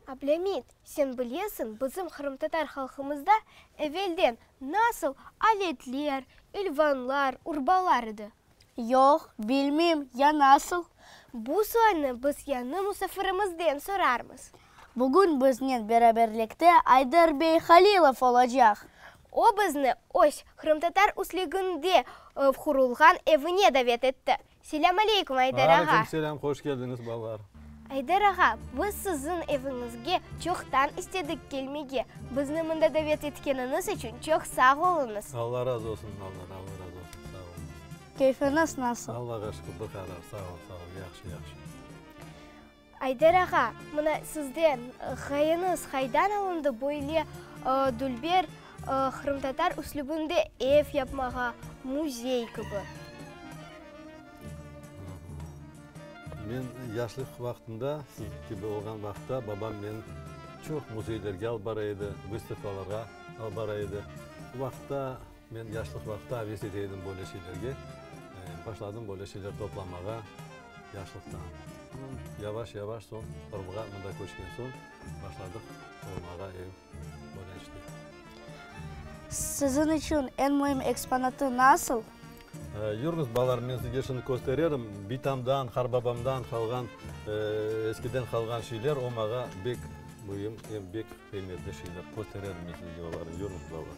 Ablemit, sen bilesiñ, bizim qırımtatar halqımızda evelden nasıl aletler, ilvanlar, urbalar edi? Yoq, bilmeyim, ya nasıl? Bu soyni biz yañı musafirimizden sorarmız. Bugün biznen beraberlikte Ayder bey Halilov olacaq. O bizni öz qırımtatar üslügünde qurulğan evine davet etti. Selâm aleykum, Ayder ağa! Aleykum selâm, hoş keldiñiz balalar! Ayder ağa, biz siziñ eviñizge çoqtan istedik kelmege. Bizni mında davet etkeniñiz içün çoq sağ oluñız! Alla razı olsun, balalar, Alla razı olsun, sağ oluñız! Keyfiñiz nasıl? Allağa şükür, bir qarar, sağ ol, sağ ol, yahşı, yahşı. Ayder ağa, mına sizden, ğayıñız qaydan alındı böyle dülber qırımtatar üslübinde ev yapmağa, müzey kibi? Men yaşlıq vaqtımda, siz kibi olğan vaqıtta, babam meni çoq müzeylerge alıp bara edi, vıstavkalarğa alıp bara edi. O vaqıtta Men yaşlıq vaqıtta aves ete edim böyle şeylerge. Başladım böyle şeyler toplamağa yaşlıqta. Yavaş-yavaş soñ Qırımğa mında köçken soñ başladıq qurmağa ev, böyle işler. Siziñ içün eñ müim eksponatı nasıl? Yürüñiz, balalarım, men sizge şimdi köstererim. Bitamdan, qarbabamdan qalğan, eskiden qalğan şeyler, o maña bek müim, bek qıymetli şeyler. Köstererim men sizge olarnı, yürüñiz, balalar.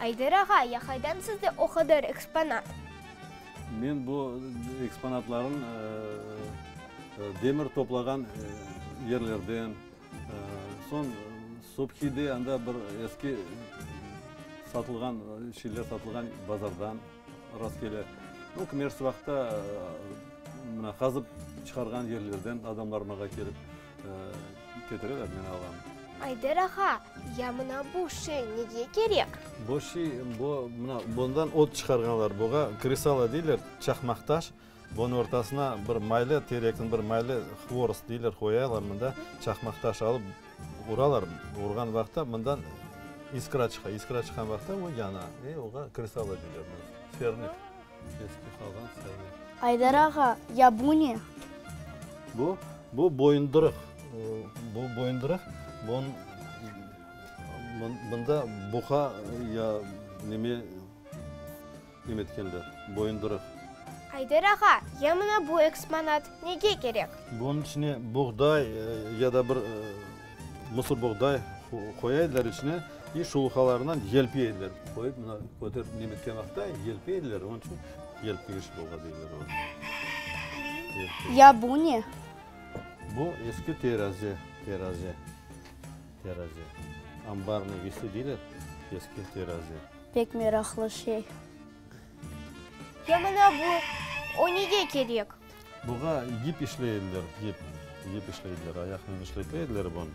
Ayder ağa, ya haydan sizde o qadar eksponat? Men bu eksponatlarım demir toplağan yerlerden, soñ Subhide anda bir eski satılğan şeyler satılğan bazardan rastkele, o kimersiz vaqıtta mına qazıp çıqarğan yerlerden adamlar mağa kelip. Ayder ağa, ya mına bu şey nege kerek? Bu şey, mına bundan ot çıqarğanlar, buğa kresala deyler, çaqmaq taş, bunıñ ortasına bir maylı, terekniñ bir maylı, hvorost deyler, qoyaylar, mında çaqmaq taş alıp uralar, urğan vaqıtta mından iskra çıqa, iskra çıqqan vaqıtta o yana, oğa kresala deyler, fernik. Aydar ağa, ya bu ne? Bu, bu boyundırıq. Bu boyundırıq, bun, bunda buqa ya neme em etkenler, boyundırıq. Aydar ağa, ya mına bu eksponat nege kerek? Bunıñ içine buğday ya da bir Mısır buğday qoya ediler içine, i şuluqalarından yelpi ediler. Qoyıp mına köterip nemetken vaqıtta yelpi ediler, onıñ içün yelpigi şuluqa deyler onı. Ya bu ne? Bu eski terazi, terazi, terazi. Ambarnıy vesi deyler, eski terazi. Pek meraqlı şey. Ya mına bu, o nege kerek? Buğa yip işley ediler, yip. Yip işley ediler, ayaqnen işlete ediler bunı.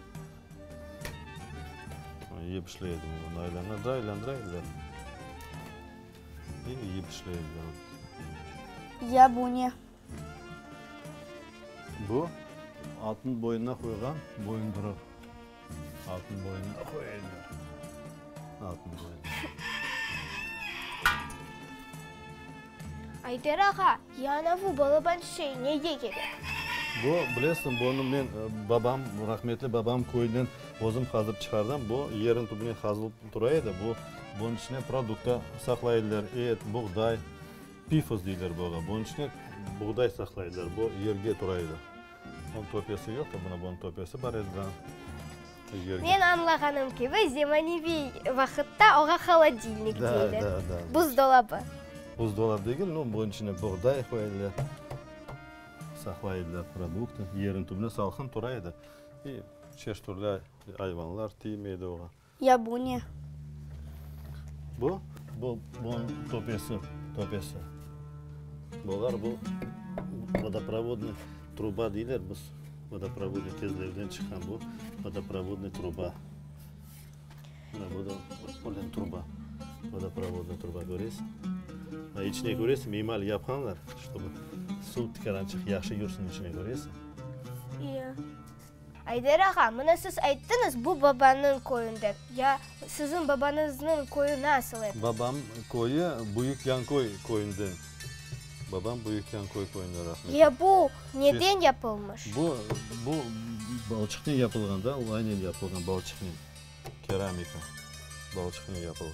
Yip işley ediler, bunı aylandıra, aylandıra ediler. Yip işley ediler. Ya bu ne? Bu, atnıñ boynuna qoyğan boyunduruv. Atnıñ boynuna qoyaylar. Atnıñ boynuna. Ayder ağa, yana bu balaban şey nege kerek? Bu, bilesiñ, bunı men babam, rahmetli babam köyünden özüm qazıp çıqardım. Bu, yerin tübüne qazılıp tura edi. Bu, bunıñ içine produkta saqlaydılar, et, buğday. Pifos deyler buña. Bunıñ içine buğday saqlaydılar. Bu yerge tura edi. Bunıñ töpesi yoqtı. Mına bunıñ töpesi bar edi da. Men añlağanım kibi, zemaneviy vaqıtta oña holodilnik deyler. Da, da, da. Buzdolabı. Buzdolabı degil, no, bunıñ içine buğday qoya ediler. Saqlay ediler produktı. Yeriñ tübüne salqın tura edi. İ çeşit-türlü ayvanlar tiymey edi oña. Ya bu ne? Bu, bu, bunıñ töpesi, töpesi. Bular bu, vodoprovodnıy truba deyler biz. Vodoprovodnıy kezlevden çıqqan bu, vodoprovodnıy truba. Mına bu da polin truba, vodoprovodnıy truba, köresiñ? A içine köresiñ, miymal yapqanlar, ştobu suv tikirançıq yahşı yursun içine, köresiñ? İya. Ayder ağa, mına siz ayttıñız, bu babanıñ köyünde. Ya siziñ babañıznıñ köyü nasıl edi? Babam köyü Büyük Yanköy köyünden. Babam Büyük Yanköy köyünden rahmetli. Ya bu neden yapılmış? Bu, bu balçıqnen yapılğan da, o aynen yapılğan balçıqnen. Keramika balçıqnen yapılğan.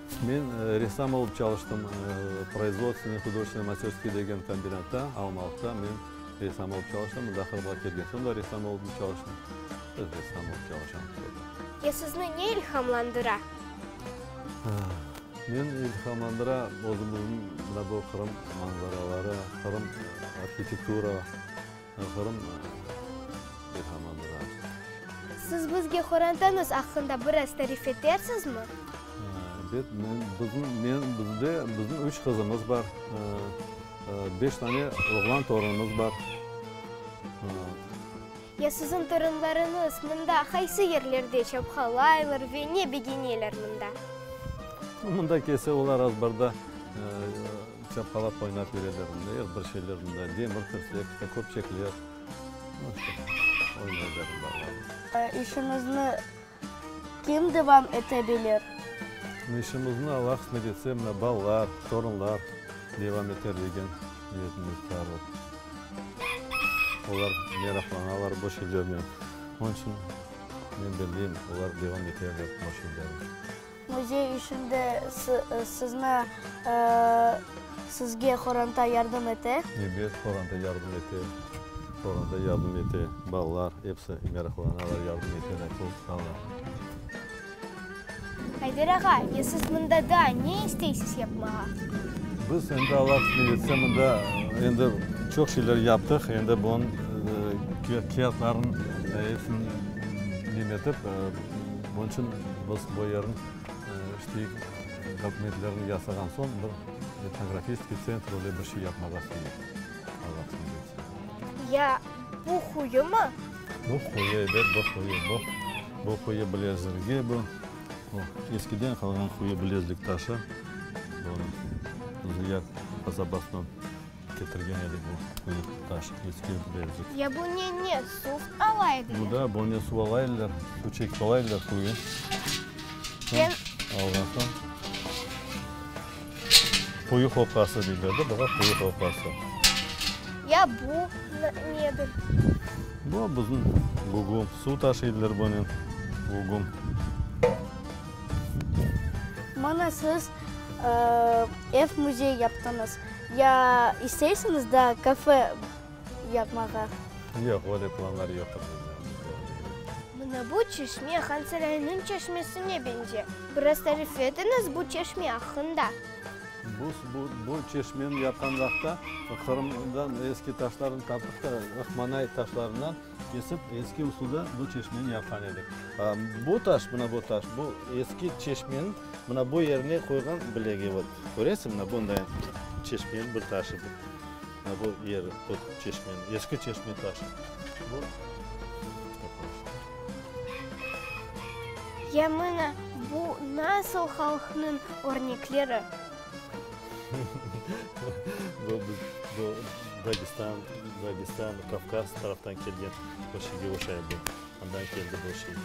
Men ressam olıp çalıştım Proizvodstvenıy hudojestvenıy masterskiy degen kombinatta, Almalıqta. Men ressam olıp çalıştım, mında Qırımğa kelgen soñ da ressam olıp çalıştım. Öz ressam olıp çalışamız burada. Ya sizni ne ilhamlandıra? Meni ilhamlandıra özümizniñ mına bu Qırım manzaraları, Qırım arhitektura. Qırım ilhamı biraz. Siz bizge qorantanıs aqqında biraz tarif etersizmi? Bet, men, bizim, men, bizde, bizim üç qızımız bar, beş tane oğlan torunımız bar. Ya siziñ torunlarıñız mında qaysı yerlerde çapqalaylar ve ne begeneler mında? Mında kelse olar azbarda. Çapqalap oynap yürerler, mınday bir şeyler, mınday demir tirsek, işte köpçekler, o işte, oynaylar balalarnı. İşimizni kim devam ete bilir? İşimizni Alla qısmet etse, mına balalar, torunlar devam eter degen niyetimiz bar. Olar meraqlanalar bu şeylernen. Onıñ içün men belleyim, olar devam eterler bu şeylerni. Müzey işinde sizni, sizge qoranta yardım ete? Ebet, qoranta yardım ete. Qoranta yardım ete. Balalar episi meraqlanalar, yardım eteler çoq. Sağlar. Ayder ağa, ya siz mında daa ne isteysiz yapmağa? Biz endi Allah qısmet etse, mında endi çoq şeyler yaptıq. Endi bunıñ kâğıtlarınıñ epsini nemetip, Bunıñ içün biz bu yerniñ işleyik, dokumentlerini yasağan soñ bir etnografistskiy tsentr öyle bir şey yapmağa isteyik. Alla qısmet etse. Ya bu quyu mı? Bu quyu, ebet, bu quyu. Bu, bu quyu bilezligi bu. Bu eskiden qalğan quyu bilezlik taşı. Bu, bu ziyar qasabasından. Ketirgen edik bu quyuq taşq eski evde. Ya bu ne ne suv ala ediler. Bu da bu ne suv ala ediler suv çekip ala ediler quyu. Ken. Alğan soñ quyu qopası deyler de buğa quyu qopası. Ya bu nedir? Bu bizim gugum suv taşıydılar bunen gugum. Mana siz ev müzey yaptıñız. Ya isteysiñiz da kafe yapmağa? Yoq, böyle planlar yoqtur bizde. Mına bu çeşme Han Sarayınıñ çeşmesine beñze. Biraz tarif etiñiz bu çeşme aqqında. Bu, bu, bu çeşmeni yapqan vaqıtta Qırımdan eski taşlarnı taptıq da, ıhmanay taşlarından kesip, eski usulda bu çeşmeni yapqan edik. Bu taş, mına bu taş, bu eski çeşmeniñ. Mına bu yerine qoyğan bilegi vot, köresiñ, mına bunday çeşmeniñ bir taşı bu. Mına bu yeri vot çeşmeniñ, eski çeşme taşı bu. Ya mına bu nasıl halqnıñ örnekleri? Bu biz, bu Dagestan, Dagestan, Kavkaz taraftan kelgen bir şeyge oşay bu. Andan keldi bu şey.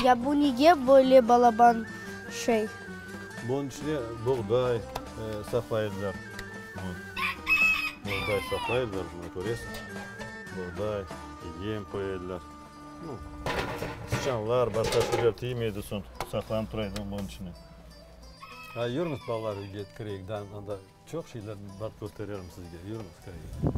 Ya bu nege böyle balaban şey? Bunıñ içine buğday saqlayırlar. Buğday saqlayırlar, mına köresiz, buğday, yem qoyarlar. Sıçanlar, başqa şeyler tiymeydi soñ, saqlanıp tura edi bunıñ içine. Ay, yürüñiz, balalar, uyğa kireyik da, anda çoq şeyler bar, köstererim sizge. Yürüñiz, kireyik.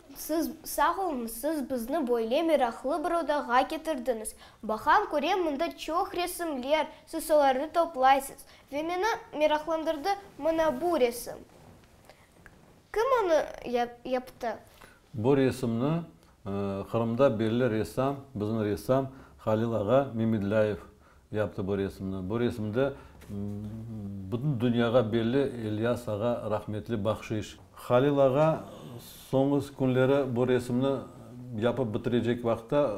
Siz sağ olun, siz bizni böyle meraqlı bir odağa ketirdiñiz. Baqam, körem, mında çoq resimler, siz solarnı toplaysız. Ve meni meraqlandırdı mına bu resim. Kim onı yaptı? Bu resimni Qırımda belli ressam, biziñ ressam Halil ağa Memedlâyev yaptı bu resimni. Bu resimde bütün dünyağa belli İlyas ağa rahmetli bahşiş. Halil ağa soñu künleri bu resimni yapıp bitirecek vaqıtta,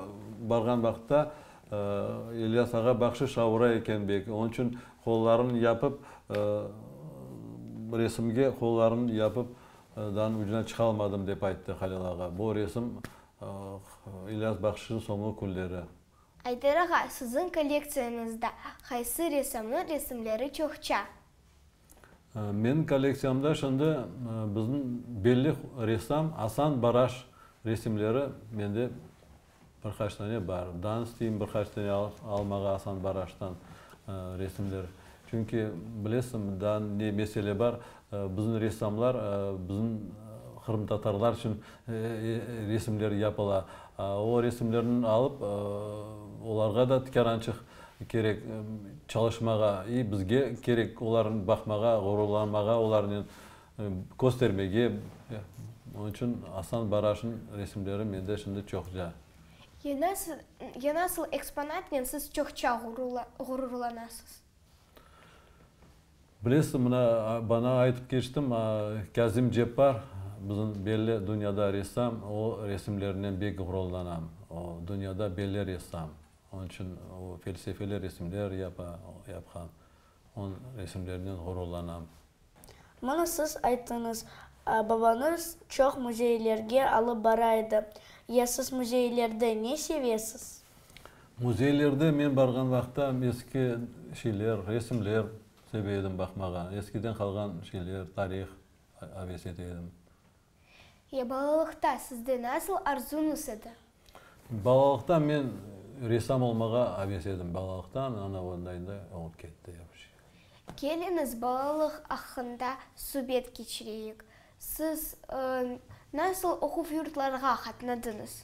barğan vaqıtta, İlyas ağa bahşiş avura eken beki, onıñ içün qollarını yapıp, resimge qollarını yapıp danıñ ucuna çıqalmadım, dep ayttı Halil ağa. Bu resim İlyas bahşişniñ soñu künleri. Ayder ağa, siziñ kollektsiyañızda qaysı ressamnıñ resimleri çoqça? Meniñ kollektsiyamda şimdi bizniñ belli ressam Asan Baraş resimleri mende bir qaç tane bar. Dan isteyim bir qaç tane almağa Asan Baraştan resimler. Çünki bilesiñmi, dan ne mesele bar, Bizim ressamlar, bizim qırımtatarlar içün resimler yapıla. O resimlerni alıp, olarğa da tikerançıq kerek çalışmağa. İ bizge kerek olarnı baqmağa, ğururlanmağa olarnen, köstermege. Onıñ içün Aslan Baraşnıñ resimleri mende şimdi çoqça. Ya nasıl, ya nasıl eksponatnen siz çoqça ğururlanasız? Bilesiz, mına, bana aytıp keçtim, Kâzim Ceppar, bizim belli dünyada ressam, o resimlerinen bek ğururlanam. O, dünyada belli ressam. Onıñ içün o felsefeli resimler yapa, yapqan. Onıñ resimlerinen ğururlanam. Mına, siz ayttıñız, babañız çoq müzeylerge alıp bara edi. Ya siz müzeylerde ne sevesiz? Müzeylerde men barğan vaqıtta eski şeyler, resimler seve edim baqmağa. Eskiden qalğan şeyler, tarih aves ete edim. Ya balalıqta sizde nasıl arzuñız edi? Balalıqta men ressam olmağa aves edim. Balalıqtan ana ondayında olıp ketti yapıcı. Keliñiz, balalıq aqqında subet keçireyik. Siz nasıl oquv yurtlarğa qatnadıñız?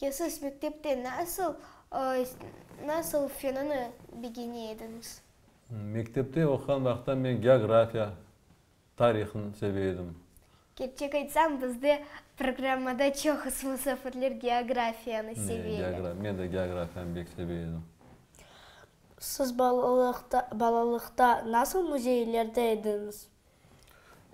Ya siz mektepte nasıl, nasıl fenini begene ediñiz? Mektepte oquğan vaqıttan men geografiya, tarihni seve edim. Kerçek aytsam, bizde programmada çoqusı musafirler geografiyanı seveler. Men de geografiyanı bek seve edim. Siz balalıqta, balalıqta nasıl müzeylerde ediñiz?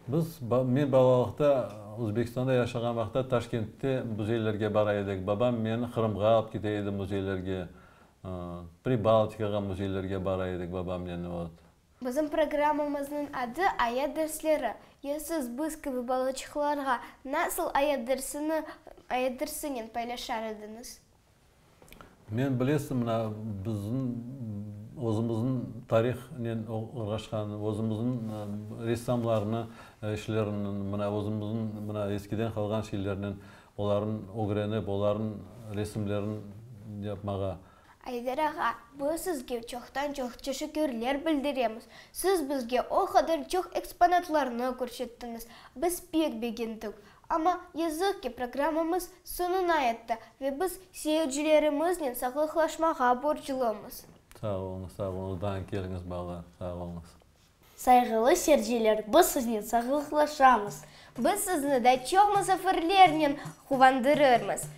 Biz, men balalıqta Özbekistanda yaşağan vaqıtta Taşkentte müzeylerge bara edik. Babam meni Qırımğa alıp kite edi müzeylerge, Pribaltikağa müzeylerge bara edik babamnen. Bizim programmamıznıñ adı Ayat dersleri. Ya siz biz kibi balaçıqlarğa nasıl ayat dersini, ayat dersinen paylaşar ediñiz? Men, bilesiñ, mına, bizim özümizniñ tarihnen uğraşqan, özümizniñ ressamlarnı işlerini, mına, özümizniñ, mına, eskiden qalğan şeylerni, olarnı ögrenip, olarnıñ resimlerini yapmağa. Ayder ağa, biz sizge çoqtan-çoq teşekkürler bildiremiz. Siz bizge o qadar çoq eksponatlarnı körsettiñiz, biz pek begendik. Amma, yazıq ki, programmamız soñuna yetti ve biz seyircilerimiznen sağlıqlaşmağa borclumız. Sağ oluñız, sağ oluñız, daim keliñiz bala. Sağ oluñız. Sayğılı serciler, biz siznen sağlıqlaşamız. Biz sizni da çoq musafirlernen quvandırırmız.